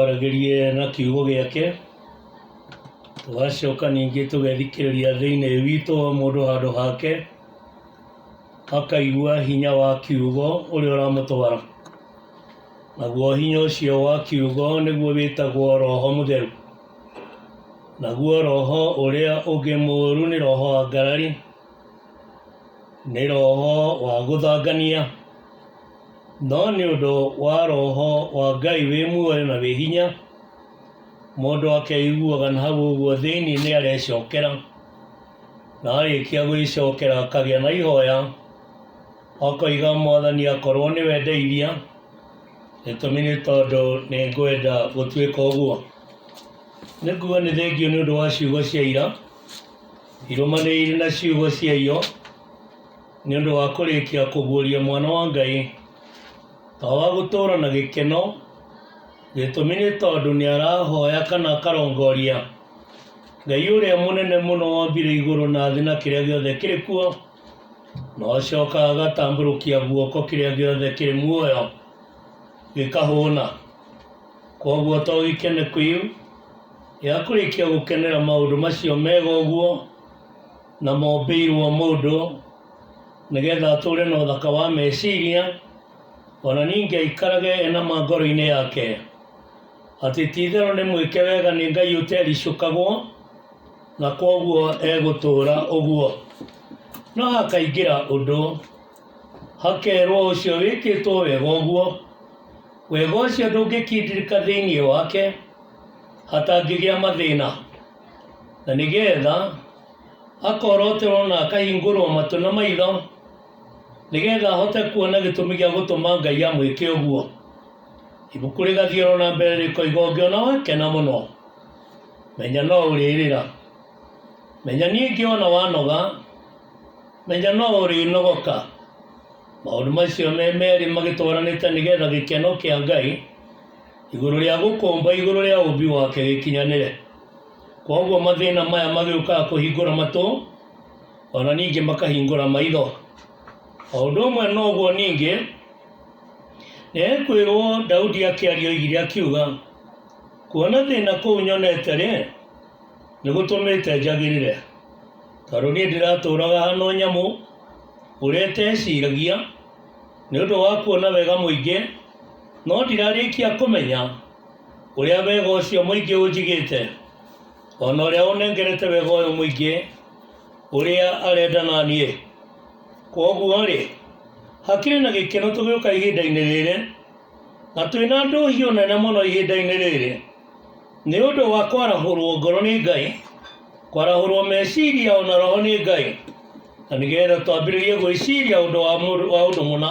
Aragĩrie na kiugo gĩake tũgacoka ningĩ tũgethikĩrĩria thĩinĩ witũ o mũndũ handũ hake akaigua hinya wa kiugo ũrĩa ũramũtwara naguo hinya ũcio wa kiugo nĩguo wĩtagwo roho mũtheru naguo roho ũrĩa ũngĩ mũũru nĩ roho wa ngarari nĩ roho wa gũthangania No nĩ ũndũ wa roho wa Ngai wĩ muoyo na wĩ hinya, mũndũ akeiguaga na hau ũguo thĩinĩ nĩ arecokera, na arĩkia gwĩcokera akagĩa na ihoya, akoiga Mwathani akorwo nĩwe ndeithia, gĩtũmi nĩ tondũ nĩ ngwenda gũtuĩka ũguo. Nĩ nguga nĩ thengiũ nĩ ũndũ wa ciugo cia ira, irũmanĩrĩire na ciugo cia iyo. Nĩ ũndũ wa kũrĩkia kũguũria mwana wa Ngai, ta wa gũtũũra na gĩkeno, gĩtũmi nĩ tondũ nĩ arahoya kana akarongoria Ngai ũrĩa mũnene mũno wombire igũrũ na thĩ na kĩrĩa gĩothe kĩrĩ kuo, na ũcoka agatambũrũkia guoko kĩrĩa gĩothe kĩrĩ muoyo gĩkahũna. Koguo to gĩkene kĩu gĩa kũrĩkia gũkenera maũndũ macio mega ũguo, na mombĩirwo mũndũ nĩgetha atũre na ũthaka wa meciria ona ningĩ aikarage ena ma ngoro-inĩ yake atĩ ti itherũ nĩ mwĩke wega nĩ ngai ũtericũkagwo na kwoguo egũtũra ũguo no hakaingĩra ũndũ hakerwo ũcio wĩkĩtwo wega ũguo wega ũcio ndũngĩkindĩrĩka thĩinĩ wake hatangĩgĩa mathĩna na nĩ getha akoroterwo na akahingũrwo matũ na maitho nĩ getha ahote kuona gĩtũmi gĩa gũtũma ngai amwĩke ũguo ibuku rĩgathiĩ oro na mbere rĩkoiga ũngĩona wakena mũno menya no ũrĩrĩra menya ningĩ ona wanoga menya no ũrĩnogoka maũndũ macio me merĩ magĩtwaranĩte nĩ getha gĩkeno kĩa ngai igũrũ rĩa gũkomba igũrũ rĩa ũmbi wake gĩkinyanĩre kwoguo mathĩna maya magĩũkaga kũhingũra matũ ona ningĩ makahingũra maitho o ũndũ ũmwe noguo ningĩ nĩekwĩrwo daudi akĩaria oigire akiuga kuona thĩna kũu nyonete rĩ nĩgũtũmĩte njagĩrĩre tondũ niĩ ndĩratũũraga hano nyamũ ũrĩa ĩteciragia nĩ ũndũ wa kuona wega mũingĩ No ndirarĩkia kũmenya ũrĩa wega ũcio mũingĩ ũnjigĩte, o na ũrĩa ũnengerete wega ũyũ mũingĩ ũrĩa arenda na niĩ. Kwoguo-rĩ, hakĩrĩ na gĩkeno tũgĩũka ihinda-inĩ rĩrĩ, na twĩ na ndũhiũ nene mũno ihinda-inĩ rĩrĩ, nĩ ũndũ wa kwarahũrwo ngoro nĩ Ngai, kwarahũrwo meciria o na roho nĩ Ngai, na nĩgetha twambĩrĩrie gwĩciria ũndũ wa mũndũ, wa ũndũ mũna.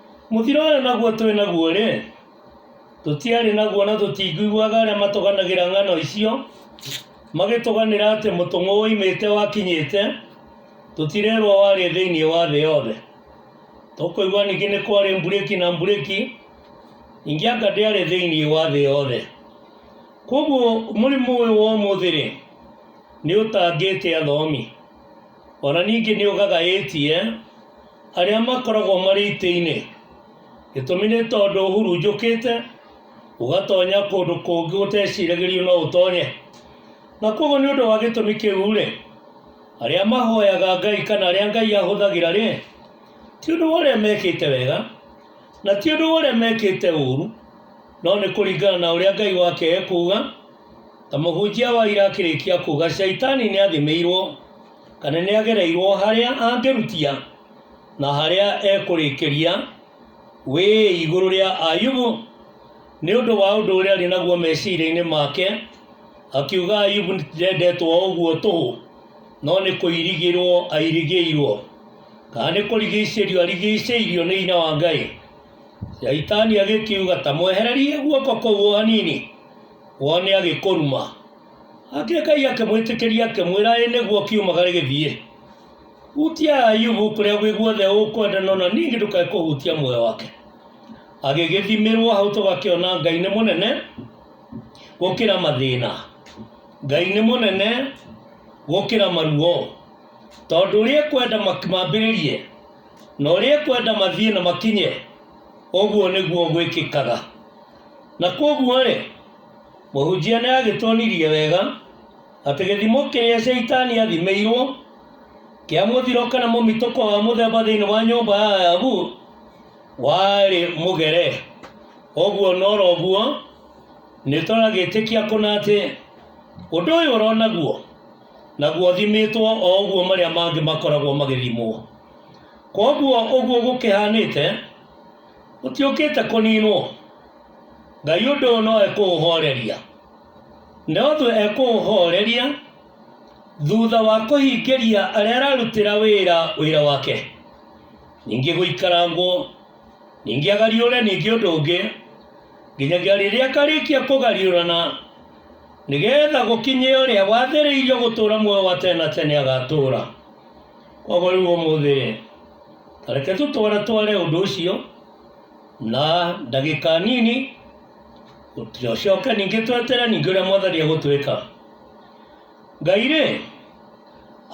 Mũthiro ũrĩa naguo twĩ naguo-rĩ, tũtiarĩ naguo na tũtingĩiguaga arĩa matũganagĩra ng'ano icio magĩtũganĩra atĩ mũtũng'ũ woimĩte wakinyĩte, tũtirerwo warĩ thĩinĩ wa thĩ yothe. Tũkũigua ningĩ nĩ kwarĩ mburĩki na mburĩki, ningĩ anga ndĩarĩ thĩinĩ wa thĩ yothe. Koguo mũrimũ ũyũ wa ũmũthĩ-rĩ, nĩ ũtangĩte athomi. O na ningĩ nĩ ũgagaĩtie arĩa makoragwo marĩ itĩ-inĩ. Gĩtũmi nĩ tondũ ũhurunjũkĩte ũgatonya kũndũ kũngĩ gũteciragĩrio no ũtonye. Na kwoguo nĩ ũndũ wa gĩtũmi kĩu-rĩ, arĩa mahoyaga Ngai kana arĩa Ngai ahũthagĩra-rĩ, ti ũndũ wa ũrĩa mekĩte wega na ti ũndũ wa ũrĩa mekĩte ũũru, no nĩ kũringana na ũrĩa Ngai wake ekuuga. Ta mũhunjia wa ira akĩrĩkia kuga shaitani nĩ athimĩirwo kana nĩ agereirwo harĩa angĩrutia na harĩa ekũrĩkĩria wĩ igũrũ rĩa ayubu nĩ ũndũ wa ũndũ ũrĩa arĩ naguo meciria-inĩ make akiuga ayubu ndendetwo o ũguo tũhũ no nĩ kũirigĩrwo airigĩirwo kana nĩ kũrigicĩrio arigicĩirio nĩ hinya wa ngai shaitani agĩkiuga ta mwehererie guoko kũu o hanini wone agĩkũruma hake ngai akĩmwĩtĩkĩria akĩmwĩra ĩ nĩguo kiumagare gĩthiĩ hutia ayubu kũrĩa gwĩ guothe ũkwenda nona ningĩ ndũkae kũhutia muoyo wake agĩgĩthimĩrwo hau tũgakĩona ngai nĩ mũnene gũkĩra mathĩna ngai nĩ mũnene gũkĩra maruo tondũ ũrĩa ekwenda mak- mambĩrĩrie na ũrĩa ekwenda mathiĩ na makinye ũguo nĩguo gwĩkĩkaga Na kwoguo-rĩ, mũhunjia nĩ agĩtuonirie wega atĩ gĩthimo kĩrĩa Shaitani athimĩirwo kĩa mũthiro kana mũmitũko wa mũthemba thĩinĩ wa nyũmba ya Ayabu warĩ mũgere. Ũguo na oro ũguo nĩ tũragĩtĩkia kũna atĩ ũndũ ũyũ ũronaguo naguo ũthimĩtwo o ũguo marĩa mangĩ makoragwo magĩthimwo. Kwoguo ũguo gũkĩhanĩte ũtiũkĩte kũninwo ngai ũndũ ũyũ no ekũũhoreria na ũthũ ekũũhoreria thutha wa kũhingĩria arĩa ararutĩra wĩra wĩra wake ningĩ gũikarangwo ningĩ agariũre ningĩ ũndũ ũngĩ nginyagia rĩrĩa akarĩkia kũgariũrana nĩgetha gũkinye ũrĩa wathĩrĩirio gũtũra muoyo wa tene na tene agatũra koguo rĩu ũmũthĩ reke tũtware tware ũndũ ũcio na ndagĩka nini tũcoke ningĩ twetere ningĩ ũrĩa mwathani egũtwĩka ngai rĩ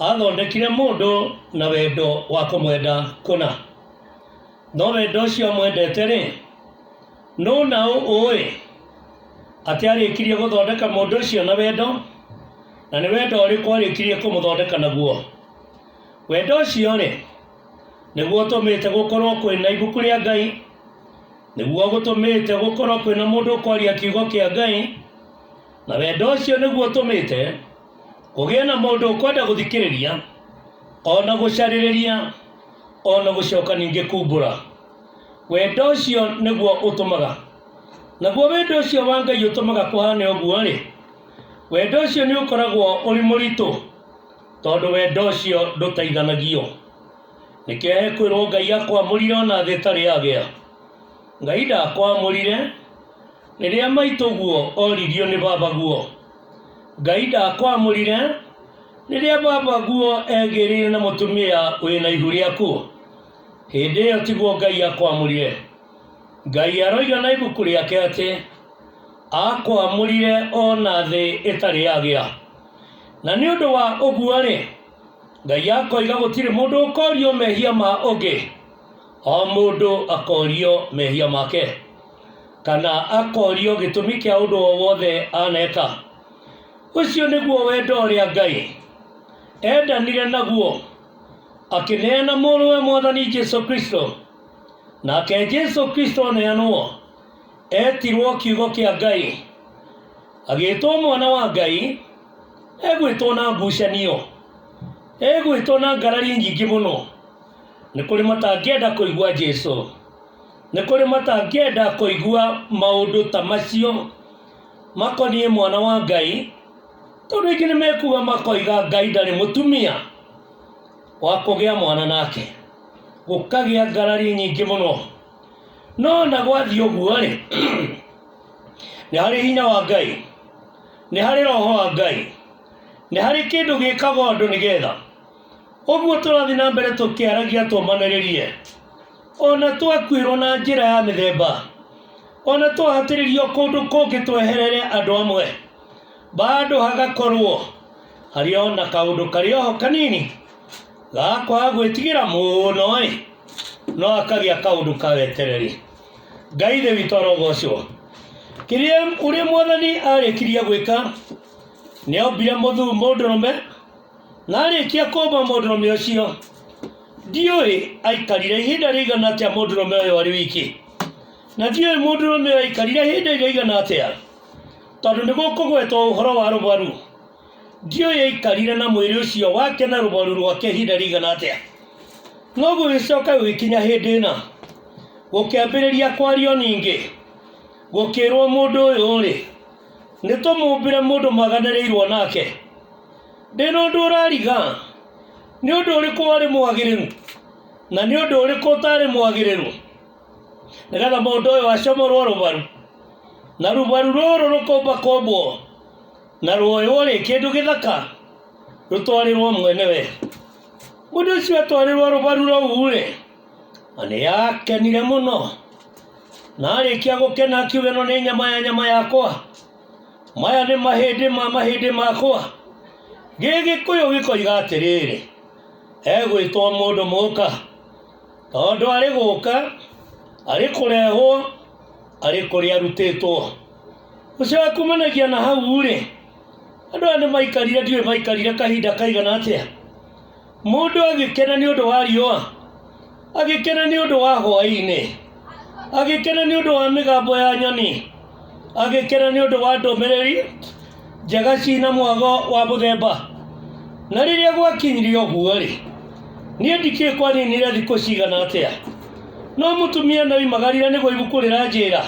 athondekire mũndũ na wendo wa kũmwenda kũna no wendo ũcio amwendete rĩ nũ na ũ ũĩ atĩ arĩkirie gũthondeka mũndũ ũcio na wendo na nĩ wendo ũrĩkũ arĩkirie kũmũthondeka naguo Wendo ũcio-rĩ, nĩguo ũtũmĩte gũkorwo kwĩ na ibuku rĩa Ngai, nĩguo gũtũmĩte gũkorwo kwĩ na mũndũ ũkwaria kiugo kĩa Ngai, na wendo ũcio nĩguo ũtũmĩte kũgĩa na mũndũ ũkwenda gũthikĩrĩria, o na gũcarĩrĩria, o na gũcoka ningĩ kumbũra. Wendo ũcio nĩguo ũtũmaga. Naguo wendo ũcio wa Ngai ũtũmaga kũhane ũguo-rĩ, wendo ũcio nĩ ũkoragwo ũrĩ mũritũ. tondũ wendo ũcio ndũtaithanagio nĩkĩo ekwĩrwo ngai akwamũrire ona thĩ ĩtarĩ yagĩa ngai ndakwamũrire rĩrĩa maitũguo oririo nĩ babaguo ngai ndakwamũrire rĩrĩa babaguo egĩrĩire na mũtumia wĩna ihu rĩaku hĩndĩ ĩyo tiguo ngai akwamũrire ngai aroiga na ibuku rĩake atĩ akwamũrire ona thĩ ĩtarĩ yagĩa na nĩ ũndũ wa ũguo-rĩ ngai akoiga gũtirĩ mũndũ ũkorio mehia ma ũngĩ o mũndũ akorio mehia make kana akorio gĩtũmi kĩa ũndũ o wothe aneka ũcio nĩguo wendo ũrĩa ngai endanire naguo akĩneana mũrũwe mwathani jesu kristo nake jesu kristo aneanwo etirwo kiugo kĩa ngai agĩtwo mwana wa ngai egwĩtwo na ngucanio egwĩtwo na ngarari nyingĩ mũno nĩ kũrĩ matangĩenda kũigua jesu nĩ kũrĩ matangĩenda kũigua maũndũ ta macio makoniĩ mwana wa ngai tondũ aingĩ nĩ mekuga makoiga ngai ndarĩ mũtumia wa kũgĩa mwana nake gũkagĩa ngarari nyingĩ mũno no na gwathiĩ ũguo-rĩ nĩ harĩ hinya wa ngai nĩ harĩ roho wa ngai nĩ harĩ kĩndũ gĩkaga ũndũ nĩgetha ũguo tũrathiĩ na mbere tũkĩaragia tũmanĩrĩrie ona twakuĩrwo na njĩra ya mĩthemba ona twahatĩrĩrio kũndũ kũngĩ tweherere andũ amwe bado hagakorwo harĩ ona kaũndũ karĩ oho kanini ga kwaga gwĩtigĩra mũno-ĩ no akagĩa kaũndũ kawetereri ngai thĩ witũ arogocwo kĩrĩa ũrĩa mwathani arĩkirie gwĩka nĩombire mũthu mũndũrũme na arĩkia kũmba mũndũrũme ũcio ndiũĩ aikarire ihinda rĩigana atĩa mũndũrũme ũyũ arĩ wiki na ndiũĩ mũndũrũme ũyũ aikarire ihinda rĩigana atĩa tondũ nĩgũkũgwetwo ũhoro wa rũbaru Ndiũ yaikarire na mwĩrĩ ũcio wake na rũbaru rwake ihinda rĩigana atĩa? No gũgĩcoka gũgĩkinya hĩndĩ ĩna, gũkĩambĩrĩria kwario ningĩ, gũkĩĩrwo mũndũ ũyũ-rĩ, nĩ tũmũmbĩre mũndũ maganĩrĩirwo nake. Ndĩ na ũndũ ũrariga, nĩ ũndũ ũrĩkũ warĩ mwagĩrĩru, na nĩ ũndũ ũrĩkũ ũtaarĩ mwagĩrĩru, nĩgetha mũndũ ũyũ acomorwo rũbaru, na rũbaru rũrũ rũkũmba kũmbwo, na rwoywo rĩ kĩndũ gĩthaka rũtwarĩrwo mwene we mũndũ ũcio atwarĩrwo rũbaru rũu rĩ na nĩ yakenire mũno na arĩkia gũkena akiuga ĩno nĩ nyama ya nyama yakwa maya nĩ mahĩndĩ ma mahĩndĩ makwa gĩgĩkũyũ gĩkoiga atĩrĩrĩ egwĩtwo mũndũ mũka tondũ arĩ gũka arĩ kũrehwo arĩ kũrĩa arutĩtwo ũcio wa kumanagia na hau rĩ andũ aya nĩ maikarire ndiũĩ maikarire kahinda kaigana atĩa mũndũ agĩkena nĩ ũndũ wa riũa agĩkena nĩ ũndũ wa hwaĩ-inĩ agĩkena nĩ ũndũ wa mĩgambo ya nyoni agĩkena nĩ ũndũ wa ndũmĩrĩri njega ci na mwago wa mũthemba. Na rĩrĩa gwakinyire ũguo-rĩ, niĩ ndikĩĩ kwaninire thikũ cigana atĩa. No mũtumia nĩoimagarire nĩguo ibuku rĩranjĩra,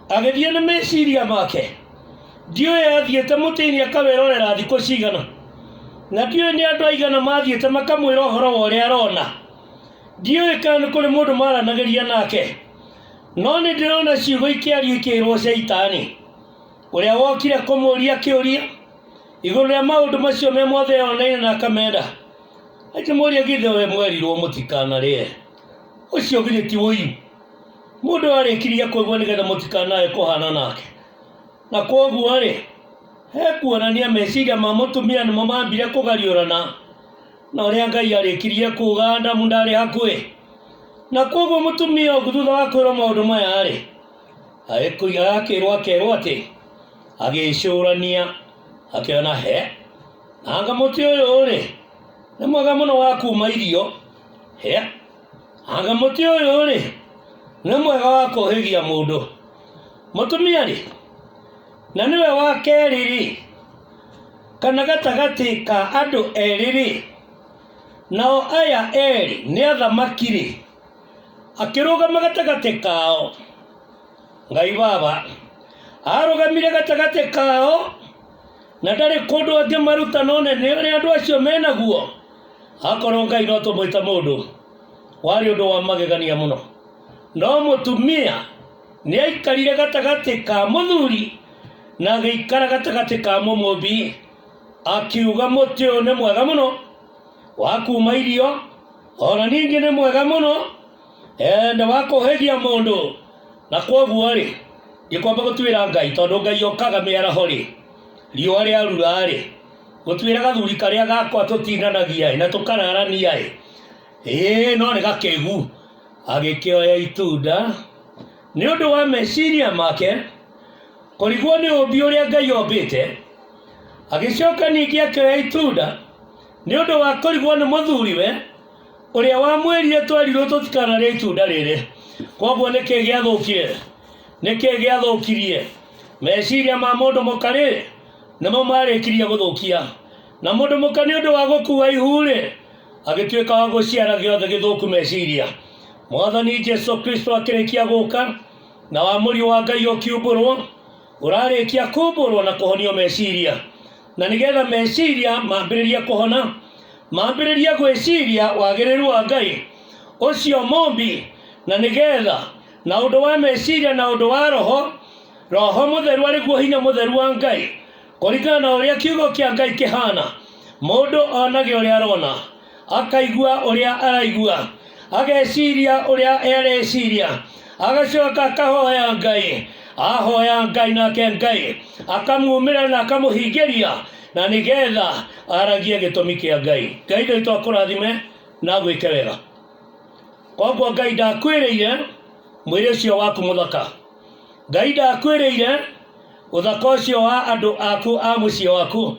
agĩthiĩ nĩ meciria make. Ndiũĩ athiĩte mũtĩ-inĩ akawĩrorera thikũ cigana, na ndiũĩ nĩ andũ aigana mathiĩte makamwĩra ũhoro wa ũrĩa arona. Ndiũĩ kana nĩ kũrĩ mũndũ maranagĩria nake, no nĩndĩrona ciugo ikĩario ikĩĩrwo Caitani. ũrĩa wokire kũmũria kĩũria igũrũ rĩa maũndũ macio me mothe yoneire na akamenda akĩmũria githĩ we mwerirwo mũtikanarĩe ũcio githĩ ti ũiyu mũndũ arĩkirie kũigua nĩgetha mũtikanae kũhana nake na kwoguo-rĩ he kuonania meciria ma mũtumia nĩmo mambire kũgariũrana na ũrĩa ngai arĩkirie kuga adamu ndarĩ hakuhĩ na kwoguo mũtumia ũngĩ thutha wa kwĩrwo maũndũ maya-rĩ agĩkũiga akĩrwo akerwo atĩ agĩcũrania akĩona he anga mũtĩ ũyũ rĩ nĩ mwega mũno wa kuma irio he anga mũtĩ ũyũ rĩ nĩ mwega wa kũhĩgia mũndũ mũtumia rĩ na nĩwe wa kerĩ rĩ kana gatagatĩ ka andũ erĩ rĩ nao aya erĩ nĩ athamaki rĩ akĩrũgama gatagatĩ kao ngai baba arũgamire gatagatĩ kao na ndarĩ kũndũ angĩmaruta none nĩ ũrĩa andũ acio menaguo akorwo ngai no tũmwĩta mũndũ warĩ ũndũ wa magegania mũno no mũtumia nĩ aikarire gatagatĩ ka mũthuri na agĩikara gatagatĩ ka mũmũmbi akiuga mũtĩ ũyũ nĩ mwega mũno wa kuma irio o na ningĩ nĩ mwega mũno eh, nĩ wa kũhĩgia mũndũ na kwoguo rĩ ndikwamba gũtuĩra ngai tondũ ngai okaga mĩaraho rĩ riũa rĩarura rĩ gũtuĩra gathuri karĩa gakwa tũtinanagia ĩ, na tũkararania ĩ ĩĩ no nĩ gakĩgu agĩkĩoya itunda nĩ ũndũ wa meciria make kũrigwo nĩ ũmbi ũrĩa ngai ombĩte agĩcoka ningĩ akĩoya itunda nĩ ũndũ wa kũrigwo nĩ mũthuriwe ũrĩa wamwĩrire twerirwo tũtikanarĩa itunda rĩrĩ koguo nĩkĩ gĩathũkire nĩkĩ gĩathũkirie meciria ma mũndũ mũka rĩ nĩmo marĩkirie gũthũkia na mũndũ mũka nĩ ũndũ wa gũkua ihu rĩ agĩtuĩka wa gũciara gĩothe gĩthũku meciria mwathani jesu kristo akĩrĩkia gũka na wamũri wa ngai ũkiumbũrwo ũrarĩkia kumbũrwo na kũhonio meciria na nĩ getha meciria mambĩrĩrie kũhona mambĩrĩrie gwĩciria wagĩrĩru wa ngai ũcio mũmbi na nĩ getha na ũndũ wa meciria na ũndũ wa roho roho mũtheru arĩ guo hinya mũtheru wa ngai kũringana na ũrĩa kiugo kĩa ngai kĩhana mũndũ onage ũrĩa arona akaigua ũrĩa araigua ageciria ũrĩa ereciria agacoka akahoya ngai ahoya ngai nake ngai akamumĩra na akamũhingĩria na nĩgetha aragie gĩtũmi kĩa ngai ngai nĩ twakũrathime na gwĩke wega koguo ngai ndakwĩrĩire mwĩrĩ ũcio waku mũthaka ngai ndakwĩrĩire ũthaka ũcio wa andũ aku a mũciĩ waku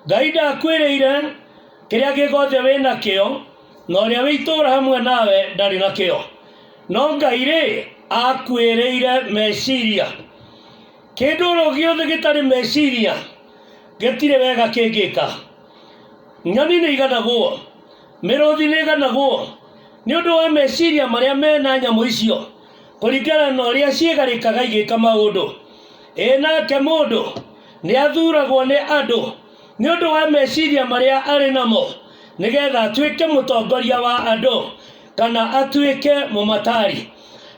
ngai ndakwĩrĩire Kĩrĩa gĩgothe wĩ nakĩo, na ũrĩa wĩ itũũra hamwe nawe ndarĩ nakĩo. No Ngai-rĩ, aakuĩrĩire meciria. Kĩndũ oro gĩothe gĩtarĩ meciria, gĩtirĩ wega kĩngĩka. Nyoni nĩiganagwo, mĩrũthi nĩĩganagwo, nĩ ũndũ wa meciria marĩa me na nyamũ icio, kũringana na ũrĩa ciĩgarĩkaga igĩka maũndũ. Ĩ nake mũndũ, nĩathuuragwo nĩ andũ. nĩ ũndũ wa meciria marĩa arĩ namo nĩgetha atuĩke mũtongoria wa andũ kana atuĩke mũmatari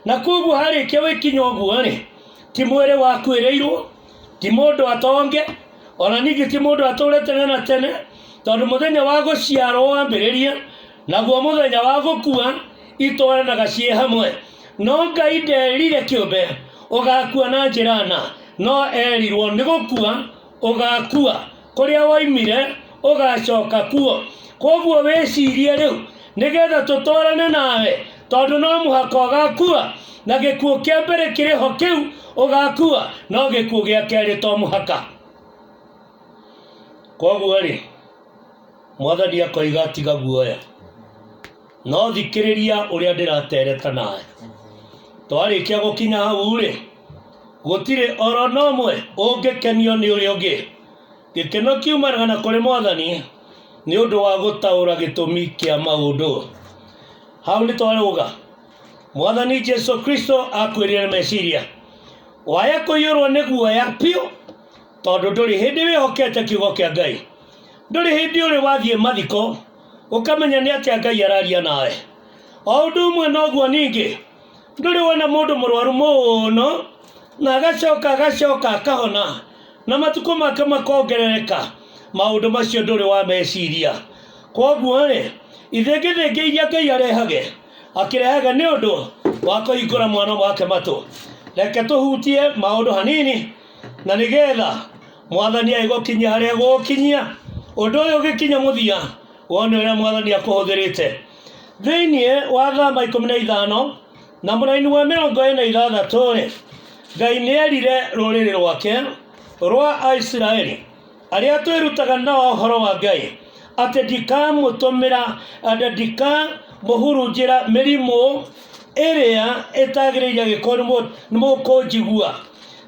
na koguo harĩkia wĩkinya ũguo rĩ ti mwĩrĩ wakuĩrĩirwo ti mũndũ atonge ona ningĩ ti mũndũ atũre tene na tene tondũ mũthenya wa gũciarwo wambĩrĩria naguo mũthenya wa gũkua itwaranaga ciĩ hamwe no ngai nderire kĩũmbe ũgakua na njĩra na no erirwo nĩ gũkua ũgaakua, kũrĩa woimire ũgaacoka kuo. Kwoguo wĩcirie rĩu, nĩgetha tũtwarane nawe, tondũ no mũhaka ũgaakua, na gĩkuũ kĩa mbere kĩrĩ ho kĩu ũgaakua, no gĩkuũ gĩa kerĩ to mũhaka. Kwoguo-rĩ, Mwathani akoiga tiga guoya, no thikĩrĩria ũrĩa ndĩratereta nawe. Twarĩkia gũkinya hau-rĩ, Gũtirĩ oro na ũmwe ũngĩkenio nĩ ũrĩa ũngĩ. Gĩkeno kiumanaga na kũrĩ Mwathani nĩ ũndũ wa gũtaũra gĩtũmi kĩa maũndũ. Hau nĩ twarũga. Mwathani Jesu Kristo akwĩrire nĩ meciria. Waya kũiyũrwo nĩ guoya biũ tondũ ndũrĩ hĩndĩ wĩhokete kiugo kĩa Ngai. Ndũrĩ hĩndĩ ũrĩ wathiĩ mathiko ũkamenya nĩ atĩa Ngai araria nawe. O ũndũ ũmwe noguo ningĩ, ndũrĩ wona mũndũ mũrwaru mũno na agacoka agacoka akahona na matukũ make makongerereka maũndũ macio ndũrĩ wa meciria kwoguo rĩ ithĩngĩthĩngĩ iria ngai arehage akĩrehaga nĩ ũndũ wa kũhingũra mwana wake matũ reke tũhutie maũndũ hanini na nĩgetha mwathani agĩgũkinyia harĩa gũgũkinyia ũndũ ũyũ ũgĩkinya mũthia wone ũrĩa mwathani akũhũthĩrĩte thĩinĩ wa thama ikũmi na ithano na mũraini wa mĩrongo ĩna ithathatũ rĩ ngai nĩerire rũrĩrĩ rwake rwa aisiraeli arĩa twĩrutaga nao ũhoro wa ngai atĩ ndikamũtũmĩra atĩ ndikamũhurunjĩra mĩrimũ ĩrĩa ĩtagĩrĩire agĩkorwo nĩ mũ- nĩ mũkũnjigua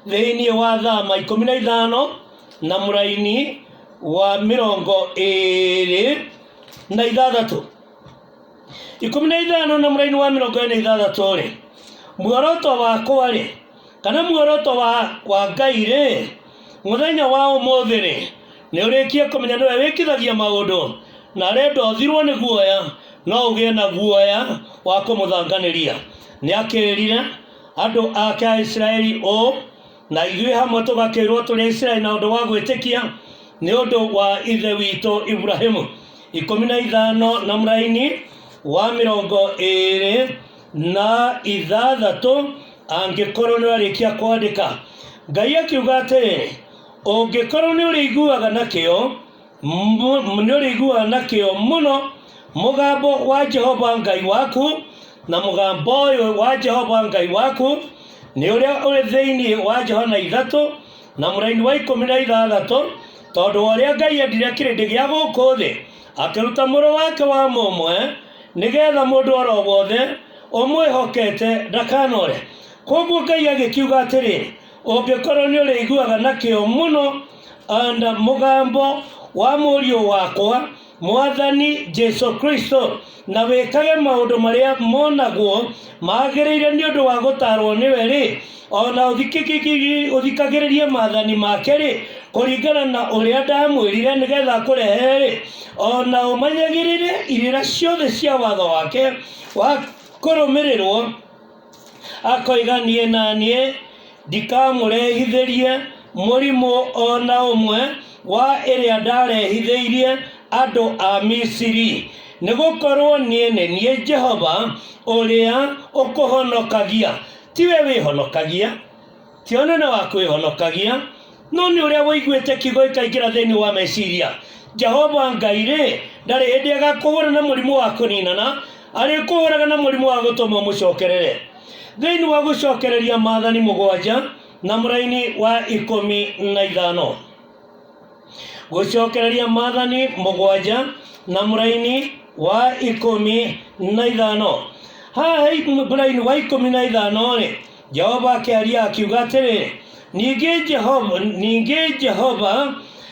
thĩinĩ wa thama ikũmi na ithano na mũraini wa mĩrongo ĩrĩ na ithathatå ikũmi na ithano na mũraini wa mĩrongo ĩrĩ na ithathatũ rĩ muoroto wakwa rĩ kana muoroto wa, wa ngai rĩ mũthenya wa ũmũthĩ rĩ nĩ ũrĩkie kũmenya nĩwe wĩkithagia maũndũ na arenda ũthirwo nĩ guoya no ũgĩe na guoya wa kũmũthanganĩria nĩ akĩrire andũ ake a isiraeli ũũ na ithuĩ hamwe tũgakĩrwo tũrĩ Isiraeli na ũndũ wa gwĩtĩkia nĩ ũndũ wa ithe witũ Ibrahimu ikũmi na ithano na mũraini wa mĩrongo ĩrĩ na ithathatũ angĩkorwo nĩ warĩkia kwandĩka ngai akiuga atĩrĩ ũngĩkorwo nĩ ũrĩiguaga na kĩo nĩũrĩiguaga na kĩo mũno mũgambo wa jehova ngai waku na mũgambo ũyũ wa jehova ngai waku nĩ ũrĩa ũrĩ thĩinĩ wa johana ithatũ na mũraini wa ikũmi na ithathatũ tondũ wa ũrĩa ngai endire kĩrĩndĩ gĩa gũkũ thĩ akĩruta mũrũ wake wa mũmwe nĩgetha mũndũ oro wothe ũmwĩhokete ndakanore koguo ngai agĩkiuga atĩrĩ ũngĩkorwo nĩ ũrĩiguaga na kĩo mũno anda mũgambo wa mũriũ wakwa mwathani jesu kristo na wĩkage maũndũ marĩa monagwo magĩrĩire nĩ ũndũ wa gũtarwo nĩwe rĩ ona ũthikĩkĩkĩ- ũthikagĩrĩrie mathani make rĩ kũringana na ũrĩa ndamwĩrire nĩgetha kũrehe rĩ ona ũmanyagĩrĩre irĩra ciothe cia watho wake wa kũrũmĩrĩrwo akoiga niĩ na niĩ ndikamũrehithĩrie mũrimũ o na ũmwe wa ĩrĩa ndarehithĩirie andũ a misiri nĩ gũkorwo niĩ nĩ niĩ jehova ũrĩa ũkũhonokagia tiwe wĩhonokagia Ti ũnene wa kwĩhonokagia, no nĩ ũrĩa wũiguĩte kiugo ikaingĩra thĩinĩ wa meciria. Jehova Ngai-rĩ, ndarĩ hĩndĩ agakũhũũra na mũrimũ wa kũninana, arĩkũhũũraga na mũrimũ wa gũtũma ũmũcokerere. Thĩinĩ wa gũcokereria maathani mũgwanja na mũraini wa ikũmi na ithano. Gũcokereria maathani mũgwanja na mũraini wa ikũmi na ithano. Haha he mũraini wa ikũmi na ithano-rĩ, jehova akĩaria akiuga atĩrĩ ningĩ jehova ningĩ jehova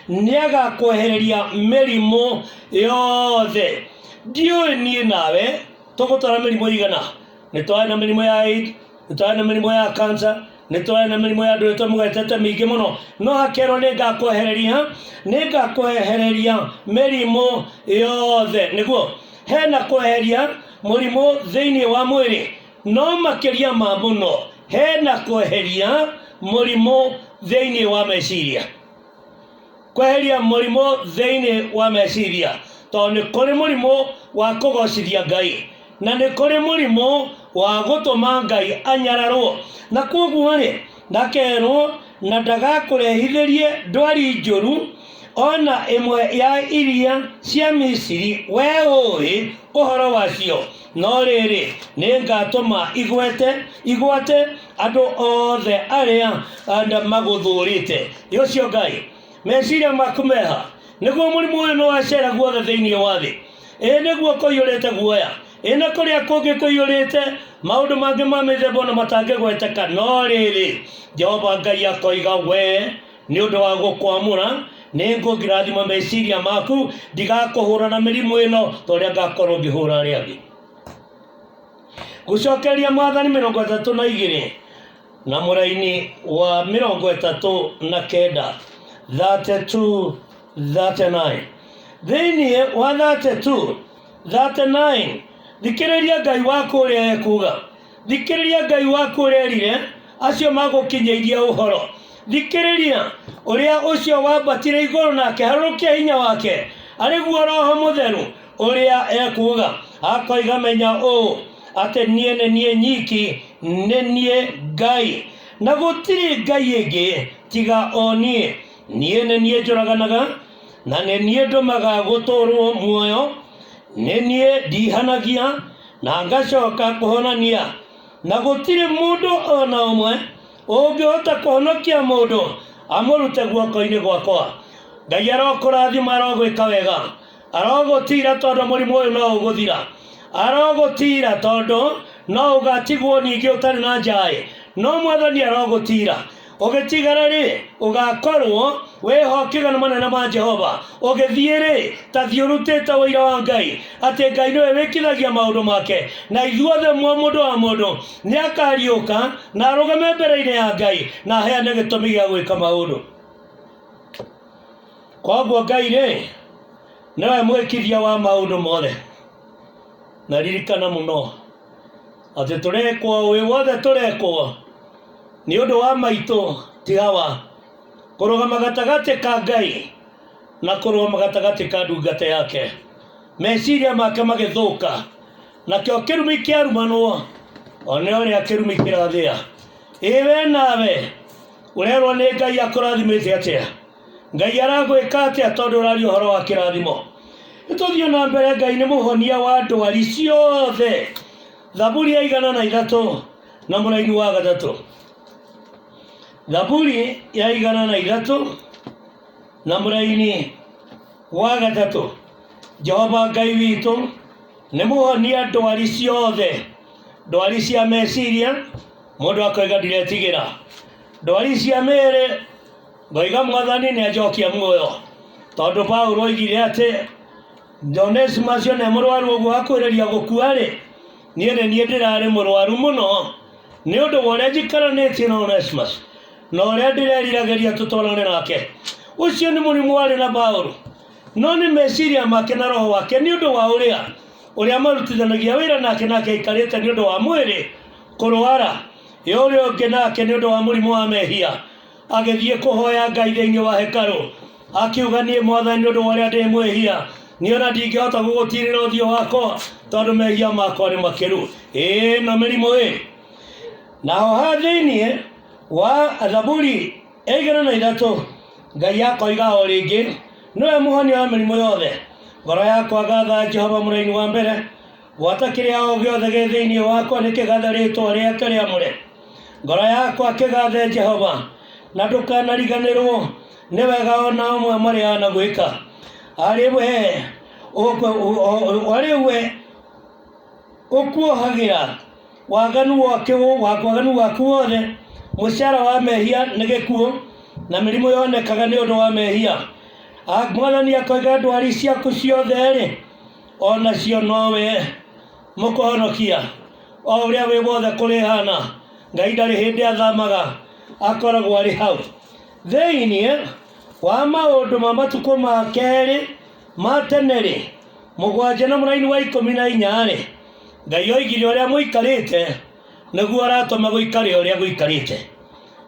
nĩagakwehereria mĩrimũ yothe ndiũĩ niĩ nawe tũgũtwara mĩrimũ igana nĩ twarĩ na mĩrimũ ya AIDS, nĩ twarĩ na mĩrimũ ya kansa nĩ twarĩ na mĩrimũ ya andũ ĩtwe mũgetete mĩingĩ mũno no hakerwo nĩ ngakwehereria nĩ ngakwehereria mĩrimũ yothe nĩguo hena kweheria mũrimũ thĩinĩ wa mwĩrĩ no makĩria ma mũno hena kweheria mũrimũ thĩinĩ wa meciria kweheria mũrimũ thĩinĩ wa meciria tondũ nĩ kũrĩ mũrimũ wa kũgocithia ngai na nĩ kũrĩ mũrimũ wa gũtũma ngai anyararwo na kwoguo rĩ ndakerwo na ndagakũrehithĩrie ndwari njũru ona ĩmwe ya iria cia misiri we ũĩ ũhoro wacio No rĩrĩ, nĩ ngatũma igwete igwate andũ othe arĩa anda magũthũrĩte. Nĩ ũcio Ngai, meciria maku meha, nĩguo mũrimũ ũyũ nĩ wacera guothe thĩinĩ wa thĩ. Ĩĩ nĩguo kũiyũrĩte guoya, ĩĩ na kũrĩa kũngĩ kũiyũrĩte maũndũ mangĩ ma mĩthemba ona matangĩgweteka. No rĩrĩ, Jehova Ngai akoiga, Wee nĩ ũndũ wa gũkwamũra nĩ ngũngirathima meciria maku ndigakũhũra na mĩrimũ ĩno ta ũrĩa ngakorwo ngĩhũra arĩa angĩ gũcokeria mwathani mĩrongo ĩtatũ na igĩrĩ na mũraini wa mĩrongo ĩtatũ na kenda 32 39 thĩinĩ wa 32 39 thikĩrĩria ngai waku ũrĩa ekuga thikĩrĩria ngai waku ũrerire acio magũkinyĩirie ũhoro thikĩrĩria ũrĩa ũcio wambatire igũrũ na akĩharũrũkia hinya wake arĩ guo roho mũtheru ũrĩa ekuuga akoiga menya ũũ atĩ niĩ nĩ niĩ nyiki nĩ niĩ ngai na gũtirĩ ngai ĩngĩ tiga o niĩ niĩ nĩ niĩ njũraganaga na nĩ niĩ ndũmaga gũtũũrwo muoyo nĩ niĩ ndihanagia na ngacoka kũhonania na gũtirĩ mũndũ o na ũmwe ũngĩhota kũhonokia mũndũ amũrute guoko-inĩ gwakwa ngai arokũrathima arogwĩka wega arogũtiira tondũ mũrimũ ũyũ no ũgũthira arogũtiira tondũ no ũgatigwo ningĩ ũtarĩ na njaĩ no mwathani arogũtiira ũgĩtigara rĩ ũgakorwo wĩhokĩga nĩ manene ma jehova ũgĩthiĩ rĩ ta thiĩ ũrutĩte ũira wa ngai atĩ ngai nĩwe wĩkithagia maũndũ make na ithuothe mwa mũndũ wa mũndũ nĩ akariũka na arũgame mbere-inĩ ya ngai na aheane gĩtũmi gĩa gwĩka maũndũ koguo ngai rĩ nĩwe mwĩkithia wa maũndũ mothe na ririkana mũno atĩ tũrekwo wĩ wothe tũrekwo nĩ ũndũ wa maitũ ti hawa kũrũgama gatagatĩ ka ngai na kũrũgama gatagatĩ ka ndungata yake meciria make magĩthũka nakĩo kĩrumi kĩarumanwo one ũrĩa kĩrumi kĩrathĩa ĩ we nawe ũrerwo nĩ ngai akũrathimĩte atĩa Ngai aragwĩka atĩa tondũ ũraria ũhoro wa kĩrathimo? Nĩtũthiĩ na mbere, Ngai nĩ mũhonia wa ndwari ciothe. Thaburi ya igana na ithatũ na mũraini wa gatatũ. Thaburi ya igana na ithatũ na mũraini wa gatatũ. Jehova Ngai witũ nĩ mũhonia ndwari ciothe, ndwari cia meciria, mũndũ akoiga ndiretigĩra, ndwari cia mĩĩrĩ ngoiga mwathani nĩ anjokia muoyo tondũ paulo oigire atĩ jones macio nĩ mũrwaru ũguo akwĩrĩria gũkua-rĩ niĩ nĩ niĩ ndĩrarĩ mũrwaru mũno nĩ ũndũ wa ũrĩa njikaranĩtie na onesmus na ũrĩa ndĩreriragĩria tũtwarane nake ũcio nĩ mũrimũ warĩ na paulo no nĩ meciria make na roho wake nĩ ũndũ wa ũrĩa ũrĩa marutithanagia wĩra nake nake aikarĩte nĩ ũndũ wa mwĩrĩ kũrwara ĩ ũrĩa ũngĩ nake nĩ ũndũ wa mũrimũ wa mehia agĩthiĩ kũhoya ngai thĩinĩ wa hekarũ akiuga niĩ mwathani nĩ ũndũ wa ũrĩa ndĩ mwĩhia niĩ ona ndingĩhota gũgũtirĩra ũthiũ wakwa tondũ mehia makwa nĩ makĩru ĩĩ no mĩrimũ ĩ naho ha thĩinĩ wa thaburi ya igana na ithatũ ngai akoiga o rĩngĩ nĩwe mũhonia wa mĩrimũ yothe ngoro yakwa gatha jehova mũraini wa mbere Gwata kĩrĩa o gĩothe gĩ thĩinĩ wakwa nĩ kĩgathe rĩtwa rĩake rĩamũre. Ngoro yakwa kĩgathe Jehova, na ndũkanariganĩrwo nĩ wega o na ũmwe marĩa anagwĩka. Arĩ we arĩ we ũkuohagĩra waganu wake waganu waku wothe, mũcara wa mehia nĩ gĩkuũ, na mĩrimũ yonekaga nĩ ũndũ wa mehia. Mwathani akoiga ndwari ciaku ciothe-rĩ, o nacio nowe mũkũhonokia o ũrĩa wĩ wothe kũrĩ hana ngai ndarĩ hĩndĩ athamaga akoragwo arĩ hau thĩinĩ wa maũndũ ma matukũ ma kerĩ ma tene-rĩ mũgwanja na mũraini wa ikũmi na inya-rĩ ngai oigire ũrĩa mũikarĩte nĩguo aratũma gũikare ũrĩa gũikarĩte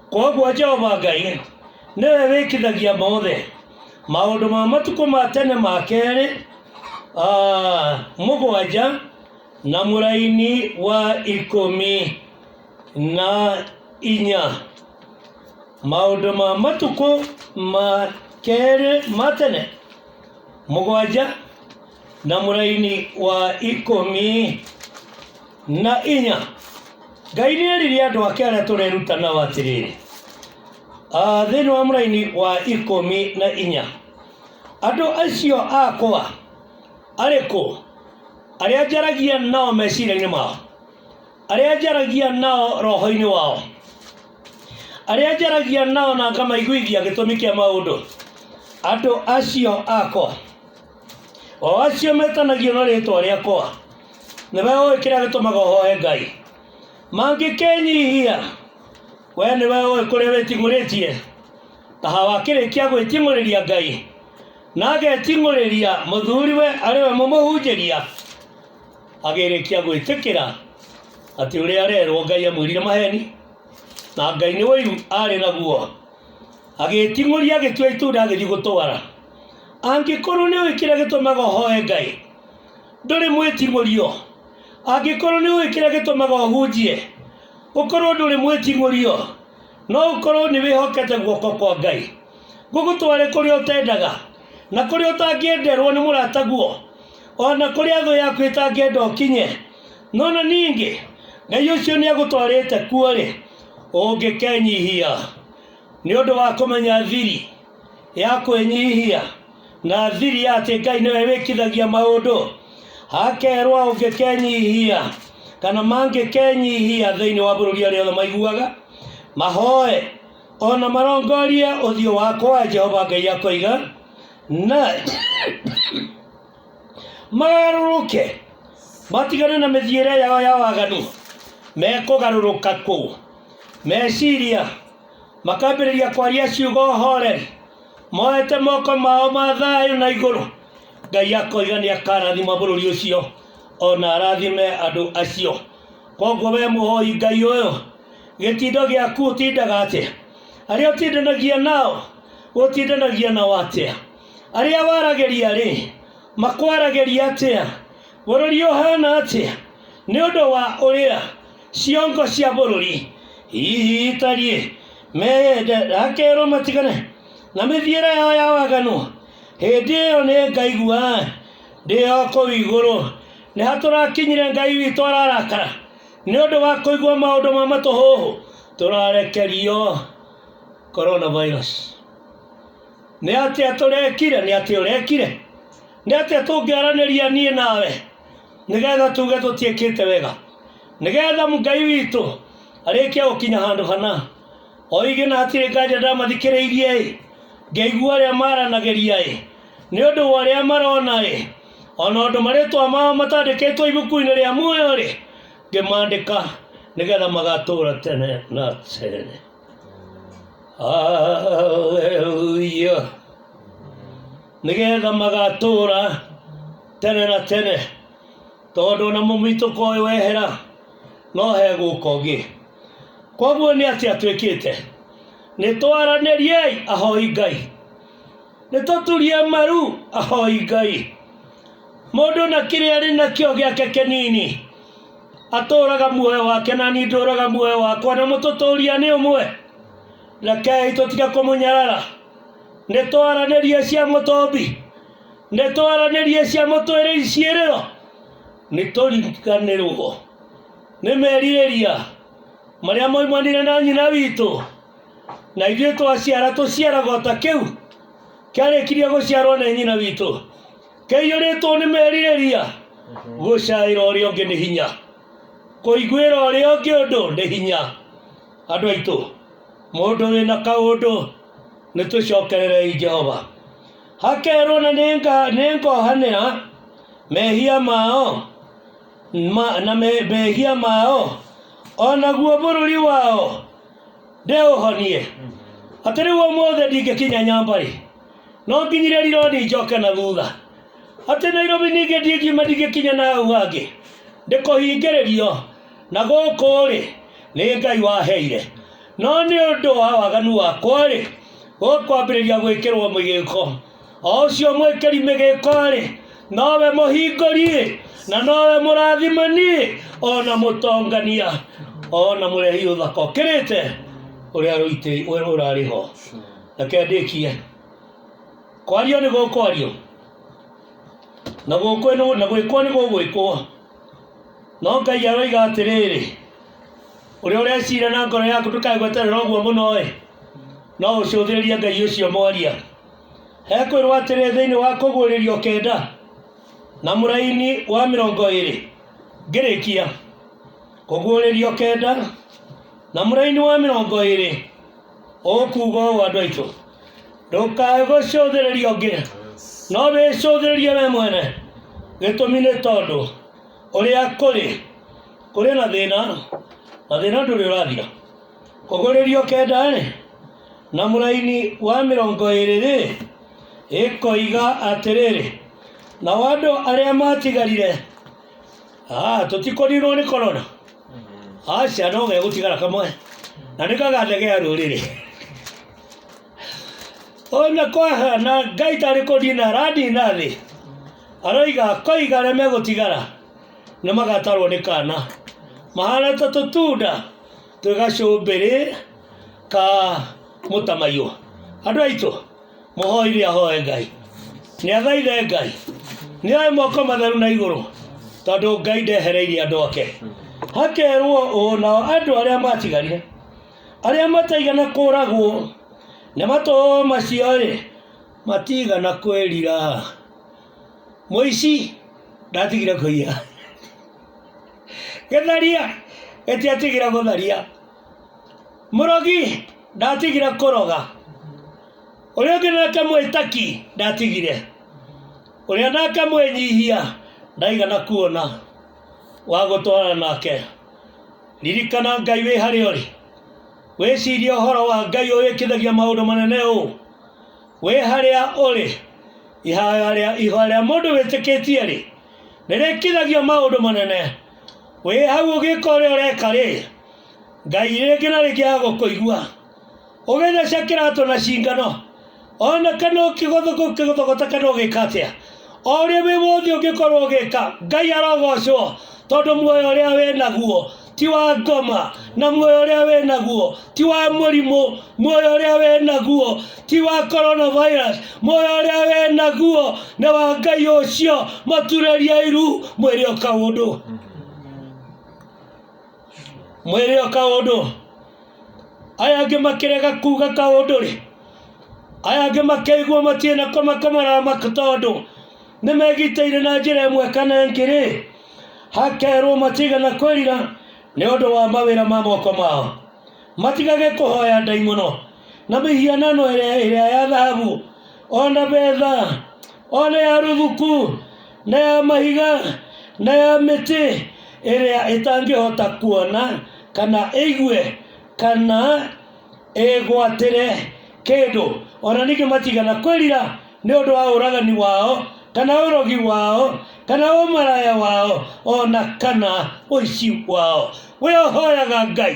kwoguo jehova ngai nĩwe wĩkithagia mothe maũndũ ma matukũ ma tene ma kerĩ ah, mũgwanja na mũraini wa ikũmi na inya maũndũ ma matukũ ma kerĩ ma tene mũgwanja na mũraini wa ikũmi na inya ngai nĩ erire andũ ake arĩa tũreruta nao atĩrĩrĩ Ah, thĩinĩ wa mũraini wa ikũmi na inya andũ acio akwa arĩkũ arĩa njaragia nao meciria-inĩ mao arĩa njaragia nao roho-inĩ wao arĩa njaragia nao na ngamaiguithia gĩtũmi kĩa maũndũ andũ acio akwa o acio metanagio na rĩtwa rĩakwa nĩwe ũĩ kĩrĩa gĩtũmaga ũhoe ngai mangĩkenyihia we nĩwe ũĩ kũrĩa wĩting'ũrĩtie taha wakĩrĩkia gwĩting'ũrĩria ngai na ageting'ũrĩria mũthuriwe arĩ we mũmũhunjĩria agĩrĩkia gwĩtĩkĩra atĩ ũrĩa arerwo ngai amwĩrire maheni na ngai nĩ ũiru arĩ naguo agĩĩting'ũria agĩtua itunda agĩthiĩ gũtwara angĩkorwo nĩ ũĩ kĩrĩa gĩtũmaga ũhoe ngai ndũrĩ mwĩting'ũrio angĩkorwo nĩ ũĩ kĩrĩa gĩtũmaga ũhunjie ũkorwo ndũrĩ mwĩting'ũrio no ũkorwo nĩ wĩhokete guoko kwa ngai gũgũtware kũrĩa ũtendaga na kũrĩa ũtangĩenderwo nĩ mũrata guo ona kũrĩa thũ yaku ĩtangĩenda ũkinye no na ningĩ ngai ũcio nĩ agũtwarĩte kuo rĩ ũngĩkenyihia nĩ ũndũ wa kũmenya thiri ya kwĩnyihia na thiri ya atĩ ngai nĩwe wĩkithagia maũndũ akerwa ũngĩkenyihia kana mangĩkenyihia thĩinĩ wa bũrũri arĩa othe maiguaga mahoe ona marongorie ũthiũ wakwa jehova ngai akoiga na magarũrũke matigane na mĩthiĩre yao ya waganu mekũgarũrũka kũ meciria makambĩrĩria kwaria ciugo horeri moete moko mao ma thayũ na igũrũ ngai akoiga nĩ akarathima bũrũri ũcio ona arathime andũ acio koguo we mũhoi ngai ũyũ gĩtindo gĩaku ũtindaga atĩa arĩa ũtindanagia nao ũtindanagia nao atĩa arĩa waragĩria rĩ makwaragĩria atĩa bũrũri ũhana atĩa nĩ ũndũ wa ũrĩa ciongo cia bũrũri hihi itariĩ meyende akerwo matigane na mĩthiĩre yao ya waganu hĩndĩ ĩyo nĩ ngaigua ndĩ o kũu igũrũ nĩ hatũrakinyire ngai witũ ararakara nĩ ũndũ wa kũigua maũndũ ma matũhũhũ tũrarekerio coronavirus nĩ atĩa tũrekire nĩ atĩa ũrekire nĩ atĩa tũngĩaranĩria niĩ nawe nĩgetha tuge tũtiĩkĩte wega nĩgetha ngai witũ arĩkia gũkinya handũ hana oige na hatirĩ nganja ndamathikĩrĩirie ĩ ngaigua arĩa maranagĩria ĩ nĩ ũndũ wa ũrĩa marona ĩ ona ũndũ marĩtwa mao matandĩkĩtwo ibuku-inĩ rĩa muoyo rĩ ngĩmandĩka nĩgetha magatũra tene na tene Haleluya. Nĩgetha magatũũra tene na tene tondũ ona mũmitũko ũyũ wehera no hegũka ũngĩ koguo nĩ atĩa twĩkĩte nĩ twaranĩriei ahoi ngai nĩ tũturie maru ahoi ngai mũndũ na kĩrĩa arĩ nakĩo gĩake kĩnini atũũraga muoyo wake na niĩ ndũũraga muoyo wakwa na mũtũtũũria nĩ ũmwe rekei tũtige kũmũnyarara nĩ twaranĩrie cia mũtombi nĩ twaranĩrie cia mũtwĩrĩri ciĩrĩro nĩ tũriganĩrwo nĩ merirĩria marĩa moimanire na nyina witũ na ithuĩ twaciara tũciaragwo ta kĩu kĩarĩkirie gũciarwo nĩ nyina witũ kĩiyũrĩtwo nĩ merirĩria gũcaĩra ũrĩa ũngĩ nĩ hinya kũiguĩra ũrĩa ũngĩ ũndũ nĩ hinya andũ aitũ mũndũ wĩna kaũndũ nĩ twĩcokererei jehova hakerwo na nĩnga- nĩngohanĩra mehia mao ma, na me, mehia mao o naguo bũrũri wao ndĩũhonie atĩ rĩu ũmũthĩ ndingĩkinya nyambarĩ no nginyire rironi njoke na thutha atĩ nairobi ningĩ ndingiuma ndingĩkinya na hau hangĩ ndĩkũhingĩrĩrio na gũkũ rĩ nĩ ngai waheire no nĩ ũndũ wa waganu wakwa rĩ gũkwambĩrĩria gwĩkĩrwo mĩgĩko o ũcio mwĩkĩri mĩgĩko rĩ nowe mũhingũri rĩ na nowe mũrathimani rĩ ona mũtongania ona mũrehi ũthaka ũkĩrĩte ũrĩa rũitĩ ũrarĩ ho reke ndĩkie kwario nĩ gũkwario na gũkwĩ nĩ- na gwĩkwo nĩ gũgwĩkwo no ngai aroiga atĩrĩrĩ ũrĩa ũrecira na ngoro yaku ndũkagweterera ũguo mũno ĩ no ũcũthĩrĩrie ngai ũcio mwaria hekwĩrwo atĩrĩ thĩinĩ wa kũguũrĩrio kenda na mũraini wa mĩrongo ĩrĩ ngĩrĩkia kũguũrĩrio kenda na mũraini wa mĩrongo ĩrĩ ũkuga ũũ andũ aitũ ndũkae gũcũthĩrĩria ũngĩ no wĩcũthĩrĩrie we mwene gĩtũmi nĩ tondũ ũrĩa kũrĩ kũrĩ na thĩna na thĩna ndũrĩ ũrathira kũgũrĩrio kenda-rĩ na mũraini wa mĩrongo ĩrĩ-rĩ ĩkoiga atĩrĩrĩ nao andũ arĩa matigarire Ah, tũtikũninwo nĩ korona aca no gegũtigara kamwe na nĩ kagathegea rũrĩrĩ ona kwahana ngai tarĩ kũnina aranina thĩ aroiga koiga arĩa megũtigara nĩ magatarwo nĩ kana mahana ta tũtunda twĩ gacumbĩrĩ ka mũtamaiyũ andũ aitũ mũhoire ahoe ngai nĩ athaithe ngai nĩ oe moko matheru na igũrũ tondũ ngai ndehereirie andũ ake hakerwo ũũ nao andũ arĩa matigarire arĩa mataigana kũragwo nĩ matũ macio rĩ matigana kwĩrira mũici ndatigire kũiya gĩtharia gĩtiatigire gũtharia Mũrogi ndatigire kũroga. Ũrĩa ũngĩ nake mwĩtaki ndatigire. Ũrĩa nake mwĩnyihia ndaigana kuona wa gũtwarana nake. Ririkana Ngai wĩ harĩa ũrĩ. Wĩcirie ũhoro wa Ngai ũyũ wĩkithagia maũndũ manene ũũ. Wĩ harĩa ũrĩ. Ihoya rĩa mũndũ wĩtĩkĩtie-rĩ, nĩrĩkithagia maũndũ manene. Wĩ hau ũgĩka ũrĩa ũreka rĩ, Ngai rĩngĩ na rĩngĩ agũkũigua. Ũgĩtheca kĩratũ na cingano, ona kana ũkĩgũthũgũta kana ũgĩka atĩa, o ũrĩa wĩ wothe ũngĩkorwo ũgĩka, Ngai arogocwo tondũ muoyo ũrĩa wĩ naguo ti wa ngoma, na muoyo ũrĩa wĩ naguo ti wa mũrimũ, muoyo ũrĩa wĩ naguo... ti wa coronavirus moyo ũrĩa wĩ naguo nĩ wa ngai ũcio mũturĩrie iru mwĩrĩ ũkaũndũ mwĩrĩ ũkaũndũ aya angĩ makĩrega kuga kaũndũ rĩ aya angĩ makĩiguo matirĩ na kũmakomara tondũ nĩ megitĩire na njĩra ĩmwe kana ĩngĩ rĩ hakerwo matigana kwĩrira nĩ ũndũ wa mawĩra ma moko mao matigage kũhoya ndaimono na mĩhianano ĩrĩa ĩrĩa ya thahabu o na betha o na ya rũthuku na ya mahiga na ya mĩtĩ ĩrĩa ĩtangĩhota kuona kana ĩigue kana ĩgwatĩre kĩndũ o na ningĩ matigana kwĩrira nĩ ũndũ wa ũragani wao kana ũrogi wao kana ũmaraya wao o na kana ũici wao we ũhoyaga ngai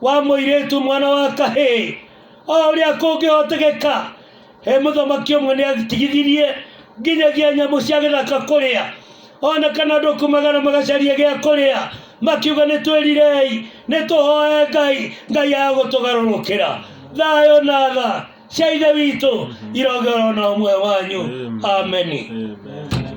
wa mũirĩtu mwana wa kahĩĩ o ũrĩa kũngĩhotekeka he mũthamaki ũmwe nĩ atigithirie nginyagia nyamũ cia gĩthaka kũrĩa ona kana andũ kumagara magacaria gĩa kũrĩa makiuga nĩ twĩrirei nĩ tũhoe ngai ngai ya gũtũgarũrũkĩra thayũ na tha cia ithe witũ irogera ona ũmwe wanyu ameni Amen.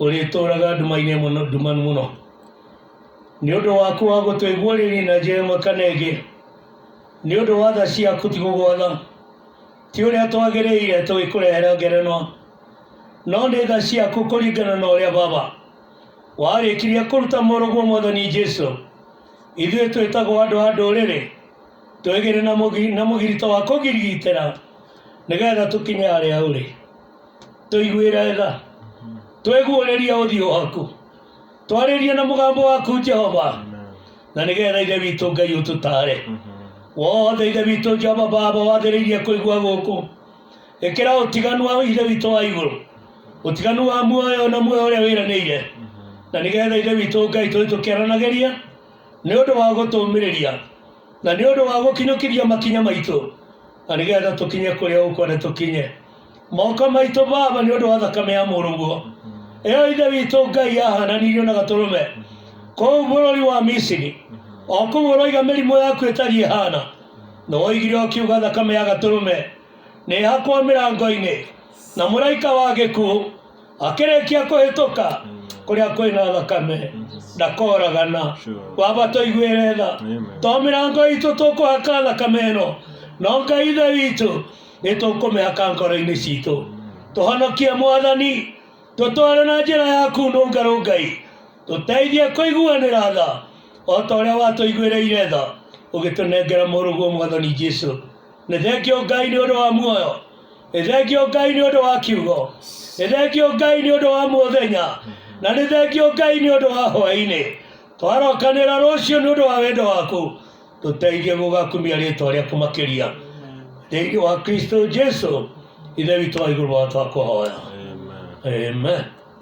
ũrĩtũũraga nduma-inĩ mũno nduma mũno nĩ ũndũ waku wa gũtũigua rĩrĩ na njĩra ĩmwe kana ĩngĩ nĩ ũndũ wa tha ciaku ti gũgwatha ti ũrĩa twagĩrĩire tũgĩkũrehera ngerenwa no nĩ tha ciaku kũringana na ũrĩa baba warĩkirie kũruta mũrũguo mwathani jesu ithuĩ twĩtagwo andũ a ndũrĩrĩ twĩgĩre na mũgi- na mũgirito wa kũgirigitĩra nĩgetha tũkinye harĩa ũrĩ tũiguĩre tha twĩguũrĩrie ũthiũ waku twarĩrie na mũgambo waku jehova na nĩgetha ithe witũ ngai ũtũtare wothe ithe witũ jehova baba wathĩrĩirie kũigua gũkũ ĩkĩra ũtiganu wa ithe witũ wa igũrũ ũtiganu wa muoyo na muoyo ũrĩa wĩranĩire na nĩgetha ithe witũ ngai tũĩ tũkĩaranagĩria nĩ ũndũ wa gũtũmĩrĩria na nĩ ũndũ wa gũkinyũkĩria makinya maitũ na nä getha tå kinye kå rä a å kwenda tå kinye moko maitå baba nä å ndå wa thakame ya må rå ä yo ithe witå ngai yahananirio na gatå rå me kũu bũrũri wa misiri o kũu ũroiga mĩrimũ yaku ĩtariĩ hana nĩ woigire ũkiuga thakame ya gatũrũme nĩ hakwo mĩrango-inĩ na mũraika wa gĩkuũ akĩrĩkia kũhĩtũka kũrĩa kwĩna thakame ndakoragana waba tũiguĩre tha to mĩrango itũ tũkũhaka thakame ĩno no ngai ithe witũ nĩ tũkũmĩhaka ngoro-inĩ citũ tũhonokie mwathani tũtware na njĩra yaku nũngarũ ngai tũteithie kũiguanĩra tha o ta ũrĩa watũiguĩrĩire tha ũgĩtũnengera mũrũguo mwathani jesu nĩ thengio ngai nĩ ũndũ wa muoyo Nĩ thengio Ngai nĩ ũndũ wa kiugo. Nĩ thengio Ngai nĩ ũndũ wa mũthenya. Na nĩ thengio Ngai nĩ ũndũ wa hwaĩ-inĩ. Twarokanĩra rũciũ nĩ ũndũ wa wendo waku. Tũteithie gũgakumia rĩtwa rĩaku makĩria. Thĩinĩ wa Kristo Jesu, Ithe witũ wa igũrũ wa twakũhoya. Amen. Amen.